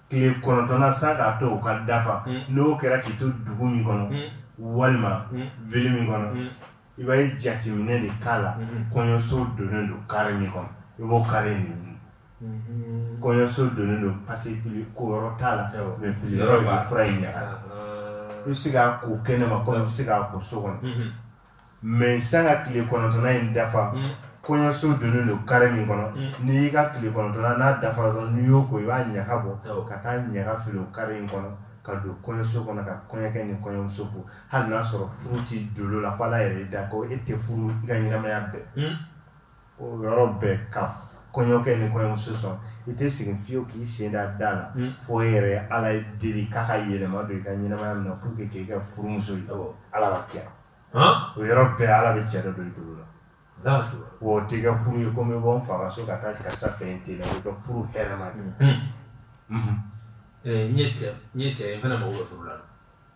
[SPEAKER 1] tile kɔnɔntɔnna sa k'a to u ka dafa mm. n'o kɛra k'i to dugu min kɔnɔ mm. walima mm. ville min kɔnɔ i b'a ye jateminɛ de k'a la mm-hmm. kɔɲɔso donnen don kare min kɔnɔ i b'o kare de ɲini mm-hmm. kɔɲɔso donnen don parce que fili ko yɔrɔ t'a la mais fili yɔrɔ b'a la fura in ɲaga i bɛ se k'a ko kɛnɛma kɔnɔ i bɛ se k'a ko so kɔnɔ mm-hmm. mais sani ka tile kɔnɔntɔnna in dafa mm. kɔɲɔso donnen don kare min kɔnɔ mm. n'i y'i ka tile kɔnɔntɔnna n'a dafara dɔrɔn n'i y'o ko i b'a ɲaga bɔ ka taa ɲaga fili o kare in kɔnɔ ka don kɔɲɔso kɔnɔ ka kɔɲɔkɛ ni kɔɲɔmuso fo hali n'a sɔrɔ furu t'i dolo la ko ala yɛrɛ y'i da ko e tɛ furu i ka ɲɛnamaya bɛɛ mm. o yɔrɔ bɛɛ ka kɔɲɔkɛ ni kɔɲɔmuso sɔn i tɛ segin fiyewu k'i sen da da la hmm. fo e yɛrɛ ye ala deli k'a ka yɛlɛma don i ka ɲɛnamaya min na pour que k'i ka furumuso ye ala ka kɛ o yɔrɔ bɛɛ ala bɛ cɛ dɔ don i dolo la wa o t'i ka furu ye komi i bɔ n fa ka so ka taa karisa fɛ yen ten na o ka furu hɛrɛ ma de n ye cɛ n ye cɛ ye n fana mago bɛ furu la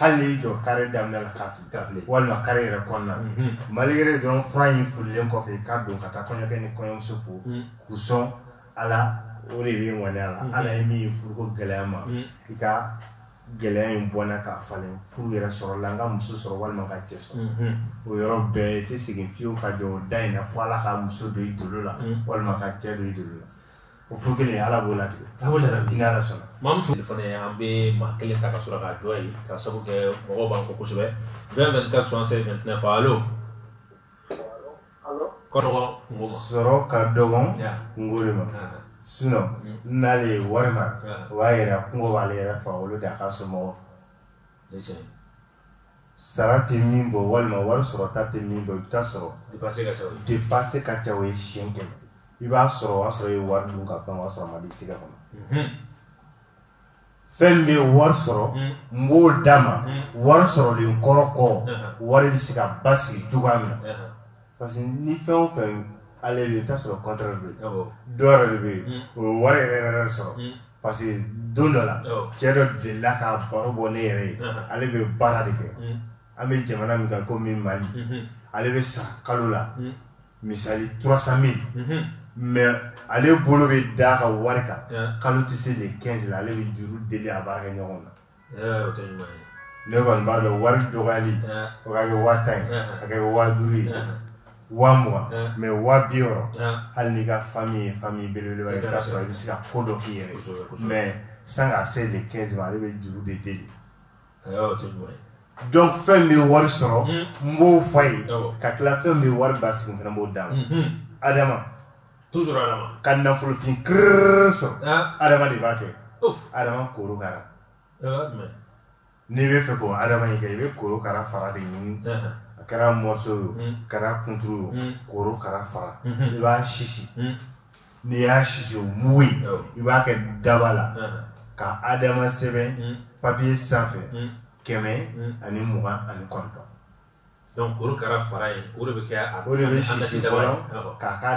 [SPEAKER 1] hali n'i y'i jɔ kare daminɛ la k'a fili K'a fili. walima kare yɛrɛ kɔnɔna na Mhm. malgré dɔrɔn fura in fililen kɔfɛ i ka don ka taa kɔɲɔkɛ ni kɔɲɔmuso fo Mm. k'u sɔn ala o de bɛ ŋaniya la Mhm. ala e min ye furuko gɛlɛya n ma Mm. i ka gɛlɛya in bɔ n na k'a falen furu yɛrɛ sɔrɔ la n ka muso sɔrɔ walima ka cɛ sɔrɔ Mhm. o yɔrɔ bɛɛ i tɛ segin fiyewu ka jɔ o da in na fo ala ka muso don i dolo la Mm. walima ka cɛ don i dolo la O furu kelen ye ala b'o latigɛ a b'o la ni ala sɔnna maa min tun fana an bɛ maa kelen ta ka sɔrɔ k'a jɔ ye ka sabu kɛ mɔgɔ b'an kɔ kosɛbɛ fɛn fɛn ka sɔn se fɛn fɔ alo kɔrɔ sɔrɔ ka dɔgɔn ngolo ma sinɔn n'ale ye wari ma o b'a yɛrɛ kunko b'ale yɛrɛ fa olu de a ka so mɔgɔw fɔ sara tɛ min bɔ walima wari sɔrɔta tɛ min bɔ i bɛ taa sɔrɔ dépense ka ca o ye siyɛn kɛmɛ i b'a sɔrɔ o y'a sɔrɔ i ye wari dun ka ban o y'a sɔrɔ a ma d'i tɛgɛ kɔnɔ mhm. fɛn min bɛ wari sɔrɔ mhm. n b'o d'a ma mhm. wari sɔrɔlen kɔrɔ kɔ wari bɛ se ka basigi cogoya min na parce que ni fɛn o fɛn ale bɛ i bɛ taa sɔrɔ contraire bɛ yen awɔ dɔ yɛrɛ de bɛ yen Mm. o ye wari yɛrɛ yɛrɛ sɔrɔ Mm. parce que don dɔ la awɔ cɛ dɔ delila ka baro bɔ ne yɛrɛ ye Aha. ale bɛ baara de kɛ Mm. an bɛ jamana min kan komi mali Mhm. ale bɛ sara kalo la Mm. misali 300 000 Mhm. mais ale bolo bɛ d'a ka wari kan Yeah. kalo tɛ se le 15 la ale bɛ juru deli a baarakɛ ɲɔgɔn na ne kɔni b'a dɔn wari dɔgɔyali o ka kɛ waa tan ye a kɛ waa duuru ye waa mugan ye waa bi wɔɔrɔ hali n'i ka fami ye fami belebeleba i ka sɔrɔ i bɛ se ka ko dɔ k'i yɛrɛ mɛ sani k'a se le kɛnzi ma ale bɛ juru de deli donc fɛn bɛ wari sɔrɔ n b'o f'a ye ka tila fɛn bɛ wari basigi fana b'o d'a ma adama toujours adama ka nafolofin kirrrr sɔrɔ ah. adama de b'a kɛ adama korokara n'i bɛ fɛ k'o adama in kɛ i bɛ korokara fara de ɲini a kɛra morceau ye o hmm. kɛra kunturu ye o hmm. korokara fara hmm. i b'a sisi n'i y'a sisi o mugu in i b'a kɛ daba la ka adama sɛbɛn papiye sanfɛ kɛmɛ ani mugan ani kɔnɔntɔn Donc korokara fara in o de bɛ kɛ a o de bɛ sisi fɔlɔ k'a kɛ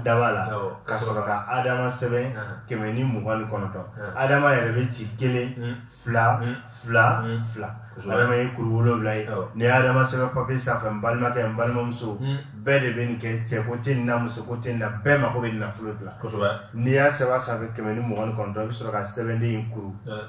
[SPEAKER 1] daba la ka sɔrɔ ka Adama sɛbɛn kɛmɛ ni mugan ni kɔnɔntɔn Adama yɛrɛ bɛ ci kelen fila fila fila Adama ye kuru wolonwula ye n'i ye Adama sɛbɛn papiye sanfɛ n balimakɛ n balimamuso bɛɛ de bɛ nin kɛ cɛ ko tɛ nin na muso ko tɛ nin na bɛɛ mago bɛ nin nafolo de la kosɛbɛ n'i y'a sɛbɛn a sanfɛ kɛmɛ ni mugan ni kɔnɔntɔn i bɛ sɔrɔ ka sɛbɛnden in kuru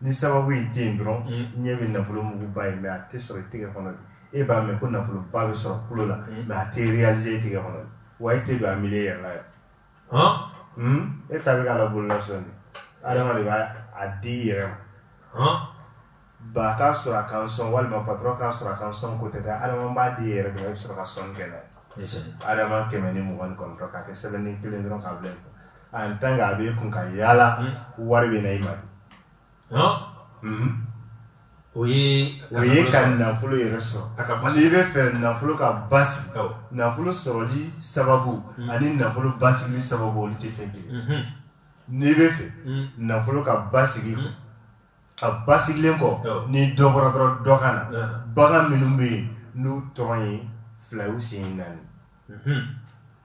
[SPEAKER 1] ni sababu ye den dɔrɔn mm. ɲɛ bɛ nafolo muguba ye mɛ a tɛ sɔrɔ i tɛgɛ kɔnɔ e b'a mɛn ko nafoloba bɛ sɔrɔ tulo la mm. mɛ a tɛ réaliser e tɛgɛ kɔnɔ wa e tɛ don a milieu yɛrɛ la yɛrɛ hmm? e ta bɛ k'a la bolola sɔn de adama de b'a a di i yɛrɛ ma ba k'a sɔrɔ a ka n sɔn walima patɔrɔn k'a sɔrɔ a ka n sɔn ko tɛ dɛ adama b'a di i yɛrɛ de ma e bɛ sɔrɔ ka sɔnni kɛ n'a ye adama kɛmɛ ni mugan ni kɔnɔntɔn k'a kɛ sɛbɛnden kelen dɔrɔn k'a bila yen an tan a bɛ kun ka yaala hmm. wari bɛ na i ma hmm. o ye o ye ka nafolo yɛrɛ sɔrɔ n'i b'a fɛ nafolo ka basi nafolo sɔrɔli sababu hmm. ani nafolo basigi sababu olu tɛ fɛn kelen n'i b'a fɛ nafolo ka basigi a basigilen kɔ ni dɔ bɔra dɔrɔn dɔ ka na bagan minnu bɛ yen n'u tɔgɔ ye fila y'u sen naani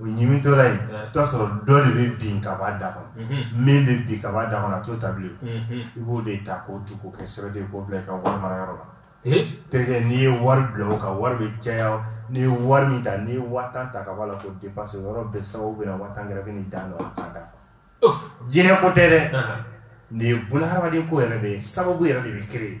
[SPEAKER 1] o ɲimitɔla ye i t'a sɔrɔ dɔ de bɛ bin ka b'a da kɔnɔ min bɛ bin ka b'a da kɔnɔ a t'o ta bilen i b'o de ta k'o tu k'o kɛ sɛbɛn de k'o bila i ka wari mara yɔrɔ la terikɛ n'i ye wari bila o kan wari bɛ caya n'i ye wari min ta n'i ye waa tan ta ka b'a la k'o dépense o yɔrɔ bɛɛ sababu bɛ na waa tan gɛrɛ bɛ n'i da nɔ la k'a da jinɛ ko tɛ dɛ nin ye bunahadamaden ko yɛrɛ de ye sababu yɛrɛ de bɛ créer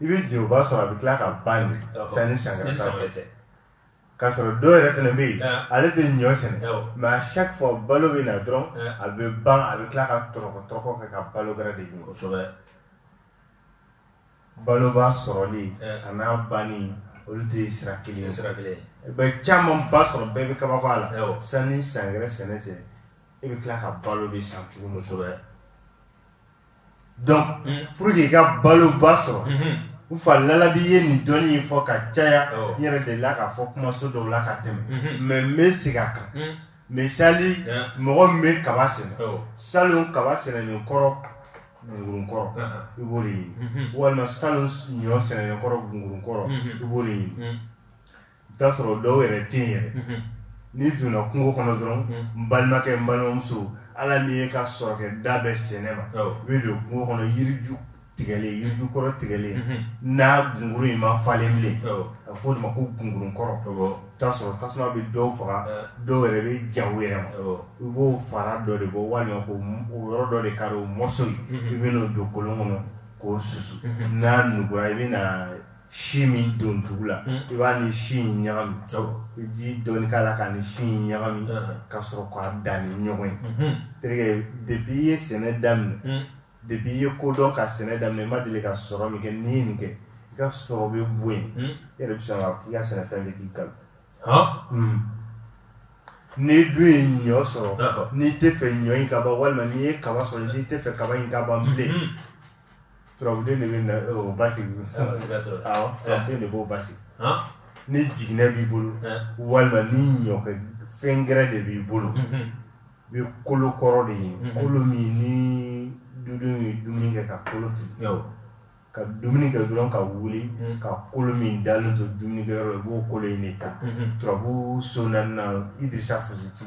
[SPEAKER 1] i bɛ jɛba sɔrɔ a bɛ tila ka ban nin sanni san gɛrɛ cɛ k'a sɔrɔ dɔw yɛrɛ fana bɛ yen ale tɛ ɲɔ sɛnɛ mɛ a chaque fois balo bɛ na dɔrɔn a bɛ ban a bɛ tila ka tɔrɔkɔ tɔrɔkɔ kɛ ka balo gɛrɛ de ɲini kosɛbɛ baloba sɔrɔli an'a banni olu tɛ sira kelen ye sira kelen ye i bɛ camanba sɔrɔ bɛɛ bɛ kabako a la sanni san gɛrɛ sɛnɛ cɛ e bɛ tila ka balo de san tuguni kosɛbɛ dɔn mm. pour que i ka baloba sɔrɔ mm-hmm. n fa lalabi ye nin dɔnni ye fɔ ka caya oh. n yɛrɛ delila k'a fɔ kumaso dɔw la ka tɛmɛ mm-hmm. mɛ n bɛ segin a kan mm. misali mɔgɔ min bɛ kaba sɛnɛ oh. salon kaba sɛnɛlen kɔrɔ gungurun kɔrɔ uh-huh. i b'o de ɲini mm-hmm. walima salon ɲɔ sɛnɛlen kɔrɔ gungurun kɔrɔ i b'o de ɲini i t'a sɔrɔ dɔw yɛrɛ tɛ yen yɛrɛ n'i donna kungo kɔnɔ dɔrɔn n balimakɛ n balimamuso ala min ye ka sɔrɔ kɛ da bɛɛ sɛnɛ ma i bɛ don kungo kɔnɔ yiriju tigɛlen yiriju kɔrɔ tigɛlen n'a gungurun ma falen bilen a fɔ o de ma ko gungurun kɔrɔ t'a sɔrɔ tasuma bɛ dɔw faga dɔw yɛrɛ bɛ ja u yɛrɛ ma i b'o fara dɔ de bɔ walima ko o yɔrɔ dɔ de kari o mɔso ye i bɛ n'o don kolon kɔnɔ k'o susu n'a nugura i bɛ na si min don dugu la hmm. i b'a ni si in ɲagami i ji dɔɔni k'a la k'a ni si in ɲagami uh-huh. ka sɔrɔ k'a da ni ɲɔgɔn ye mm-hmm. terikɛ depi i ye sɛnɛ daminɛ hmm. depi i ye ko dɔn ka sɛnɛ daminɛ i ma deli ka sɔrɔ min kɛ n'i ye nin kɛ i ka sɔrɔ bɛ bɔ yen hmm. i yɛrɛ bɛ sɔn k'a fɔ k'i ka sɛnɛfɛn bɛ k'i balo hmm. n'i dun ye ɲɔ sɔrɔ n'i t'a fɛ ɲɔ in ka ban walima n'i ye kaba sɔrɔ n'i t'a fɛ kaba in ka ban bilen Turabu de basigi de b'o basigi ni jiginɛ b'i bolo walima ni ɲɔ fɛn gɛrɛ de b'i bolo i bɛ kolo kɔrɔ de ye kolo min ni dɔ ye dumuni kɛ ka kolo fili ka dumuni kɛ dɔrɔn ka wuli ka kolo min dalen to dumuni kɛ i b'o kolo in de ta turabu so i desa fositi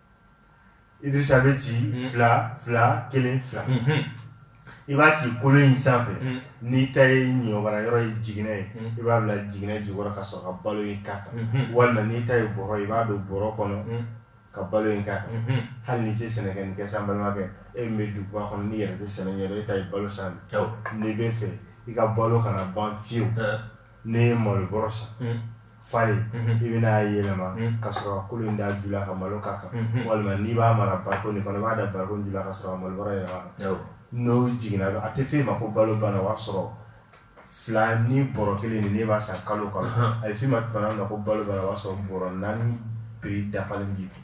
[SPEAKER 1] Idrissa bɛ ci mm. fila fila kelen fila mm-hmm. i b'a ci kolo in sanfɛ mm. n'i ta ye ɲɔ mara yɔrɔ ye jiginɛ ye mm. i b'a bila jiginɛ jukɔrɔ ka sɔrɔ ka balo in k'a kan mm-hmm. walima n'i ta ye bɔrɔ i b'a don bɔrɔ kɔnɔ ka balo in k'a kan mm-hmm. hali n'i tɛ sɛnɛ kɛ nin kɛ sa n balimakɛ e min bɛ duguba kɔnɔ n'i yɛrɛ tɛ sɛnɛ ɲɛdɔn e ta ye balo san n'i bɛ fɛ i ka balo kana ban fiyewu n'i ye malo bɔrɔ san mm. falen mhm. i bɛna a yɛlɛma mm. ka sɔrɔ ka kolo in d'a ju la ka malo k'a kan mhm. walima n'i b'a mara bariko nin kɔnɔ i b'a da bariko ju la ka sɔrɔ ka malo bɔrɔ yɛlɛm'a kan n'o jiginna a tɛ f'e ma ko balo banna o b'a sɔrɔ fila ni bɔrɔ kelen nin ne b'a san kalo o kalo a bɛ f'e ma tuma na ko balo banna o b'a sɔrɔ bɔrɔ naani prix dafalen b'i kun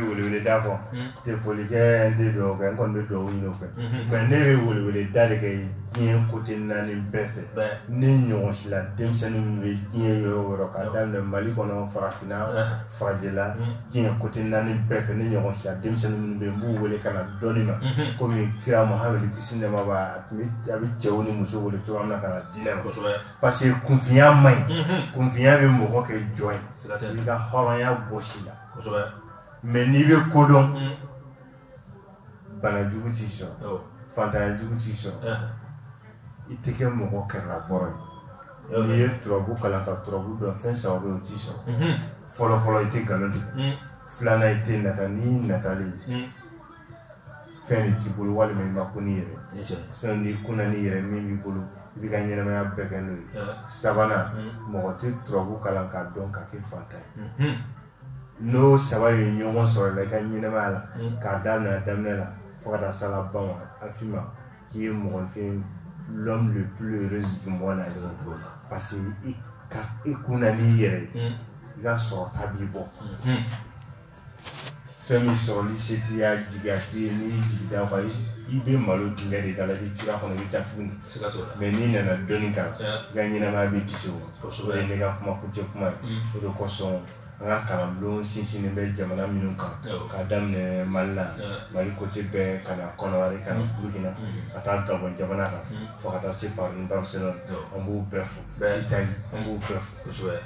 [SPEAKER 1] Wele da kɔ tɛ foli kɛ tɛ dɔw kɛ n kɔni bɛ dugawu ɲini fɛ mɛ ne bɛ welewele da de kɛ diɲɛ kote naani bɛɛ fɛ ne ɲɔgɔn si la denmisɛnnin minnu bɛ diɲɛ yɔrɔ o yɔrɔ ka daminɛ mali kɔnɔ farafinna farajɛla diɲɛ kote naani bɛɛ fɛ ne ɲɔgɔn si denmisɛnnin minnu bɛ n b'u wele ka na dɔnni ma kɔmi kira mahamadu kisi nɛɛma a bɛ cɛw ni musow wele cogoya min na ka na diinɛ ma parce que kunfinya man ɲi kunfinya bɛ mɔgɔ kɛ jɔn ye ka hɔrɔnya bɔs'i la kosɛbɛ mɛ n'i bɛ ko dɔn mm. bana jugu t'i sɔrɔ fantanya jugu t'i sɔrɔ eh. i tɛ kɛ mɔgɔ kɛrɛlabɔrɔ ye n'i ye turabu kalan ka turabu dɔn fɛn saba bɛ o t'i sɔrɔ mm-hmm. fɔlɔfɔlɔ i tɛ nkalon tigɛ mm. filanan i tɛ nata n'i natalen mm. fɛn t'i bolo walima i ma kun n'i yɛrɛ sinon n'i kunna n'i yɛrɛ min b'i bolo i b'i ka ɲɛnamaya bɛɛ kɛ n'o ye sabanan mɔgɔ tɛ turabu kalan k'a dɔn k'a kɛ fantan ye n'o saba ye ɲɔgɔn sɔrɔ la i ka ɲɛnamaya la k'a daminɛ a daminɛ la fo ka taa s'a laban ma a f'i ma k'i ye mɔgɔ enfin l'homme le plus heureux du monde la parce que i ka i kunna n'i yɛrɛ ye i ka sɔrɔta b'i bɔ fɛn min sɔrɔli se t'i y'a jigiya t'i ye n'i y'i jigi d'a kan i bɛ malo dingɛ de k'a la i bɛ tura kɔnɔ i bɛ taa tuguni mɛ n'i nana dɔnni kan i ka ɲɛnamaya bɛ kisi o o de ye ne ka kuma kuncɛ kuma ye mm. o de kosɔn an ka kalanbulon sinsinnen bɛ jamana minnu kan k'a daminɛ mali la mali kote bɛɛ ka na kɔnɔwari ka na mm. burukina mm. ka taa gabɔn jamana kan fo ka taa se paris barcelone an b'u bɛɛ fo itali an b'u bɛɛ fo